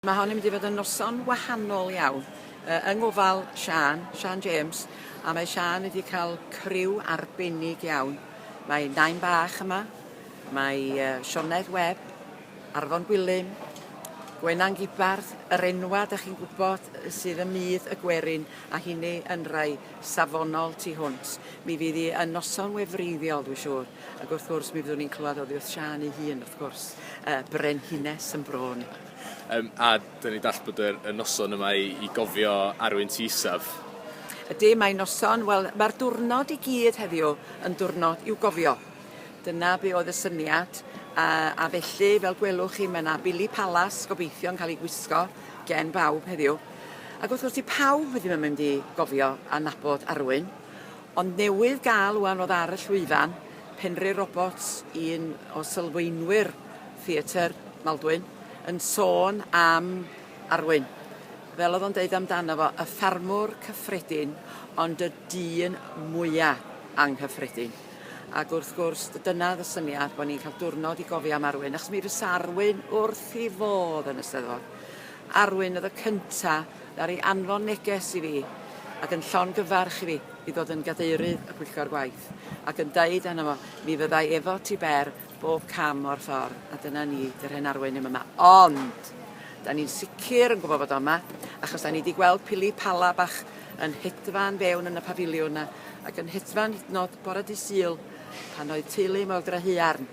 Mae hon yn mynd i fod yn noson wahanol iawn yy yng ngofal Siân, Siân James, a mae Siân wedi cael criw arbennig iawn. Mae Nain Bach yma, mae yy Sioned Webb, Arfon Gwilym, Gwenan Gibarth, yr enwa' 'dach chi'n gwybod sydd ym myd y gwerin a hynny yn rhai safonol tu hwnt. Mi fydd hi yn noson wefreiddiol, dwi'n siŵr, ac wrth gwrs mi fyddwn ni'n clywed oddi wrth Siân ei hun, wrth gwrs, y brenhines yn bro ni. Um, a dyn ni dall bod y, y noson yma i, i gofio arwyn ti isaf. Ydy, mae noson, wel, mae'r diwrnod i gyd heddiw yn diwrnod i'w gofio. Dyna be oedd y syniad, a, a felly, fel gwelwch chi, mae yna Billy Palas gobeithio yn cael ei gwisgo gen bawb heddiw. Ac wrth gwrs, 'di pawb ddim yn mynd i gofio a nabod Arwyn, ond newydd gael ŵan fod ar y llwyfan, Penri Roberts, un o sylfaenwyr theatr Maldwyn, yn sôn am Arwyn. Fel oedd o'n deud amdano fo, y ffarmwr cyffredin, ond y dyn mwya anghyffredin. Ac wrth gwrs, dyna oedd y syniad, bod ni'n cael diwrnod i gofio am Arwyn, achos mi fysa Arwyn wrth 'i fodd yn y Steddfod. Arwyn oedd y cynta ddaru anfon neges i fi ac yn llongyfarch i fi i ddod yn Gadeirydd y Pwyllgor Gwaith ac yn deud arno fo mi fyddai efo ti Ber bob cam o'r ffordd a dyna ni, dy'r hen Arwyn ddim yma ond da ni'n sicr yn gwybod fod o yma achos da ni di gweld pili pala bach yn hedfan fewn yn y pafiliwn yna ac yn hedfan hyd yn nod bore dydd Sul pan oedd teulu mawr Grahuarn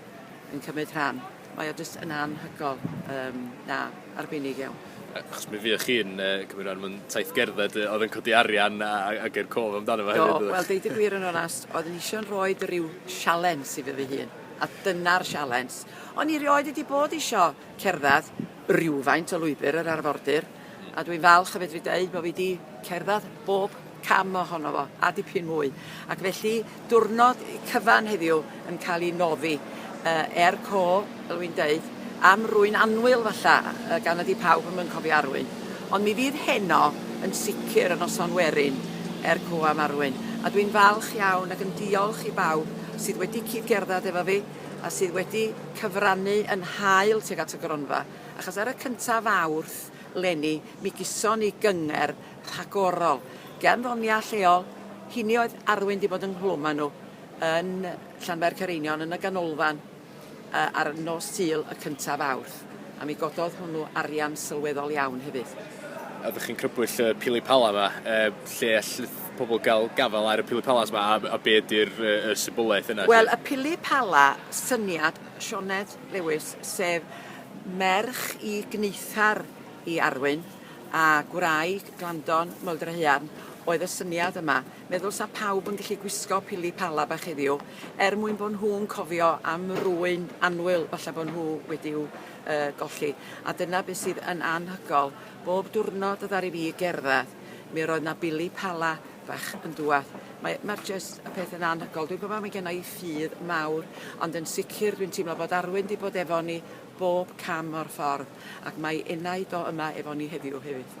yn cymryd rhan. Mae o jyst yn anhygoel. Yym, na, arbennig iawn. Achos mi fuoch chi'n uh, cymryd rhan mewn taith gerdded uh, oedd yn codi arian a, a ger cof amdano fo hefyd. Do, wel, deud y gwir yn onast, oedd yn eisiau'n rhoi rhyw sialens i fy fy hun. A dyna'r sialens. O'n i rioed wedi bod eisiau cerdded rhywfaint o lwybr yr arfordir. a dwi'n falch o fedru deud bod fi 'di cerdded bob cam ohono fo, a dipyn mwy. Ac felly, diwrnod cyfan heddiw yn cael ei noddi uh, er co, fel wy'n deud, am rwy'n anwyl falla, uh, gan ydy pawb yn mynd cofio arwyn. Ond mi fydd heno yn sicr yn noson werin er co am arwyn. A dwi'n falch iawn ac yn diolch i bawb sydd wedi cyd-gerdded efo fi a sydd wedi cyfrannu yn hael tuag at y gronfa. achos ar y cynta Fawrth 'leni mi gyson ni gyngerdd rhagorol gen ddonia lleol, hini oedd Arwyn 'di bod ynghlwm a nhw yn Llanfair Careinion yn y ganolfan yy ar nos Sul y cynta Fawrth a mi gododd hwnnw arian sylweddol iawn hefyd. Oeddech chi'n crybwyll y pili pala 'ma yy lle all pobl gael gafael ar y pili palas 'ma a a be ydi'r yy y symboleth yna 'lly? Wel y pili pala syniad Sioned Lewis, sef merch i gneithar i Arwyn a gwraig Glandon Moeldrahaearn, oedd y syniad yma. Meddwl 'sa pawb yn gallu gwisgo pili pala bach heddiw, er mwyn bod nhw'n cofio am rwyn annwyl falle bod nhw wedi'w uh, golli. A dyna beth sydd yn anhygol. Bob diwrnod y ddaru fi gerdded, mi roedd na bili pala fach yn dŵad. Mae mae jyst y peth yn anhygol. Dwi'n gwybod mae genna i ffydd mawr, ond yn sicr dwi'n teimlo bod Arwyn wedi bod efo ni bob cam o'r ffordd, ac mae enaid o yma efo ni heddiw hefyd.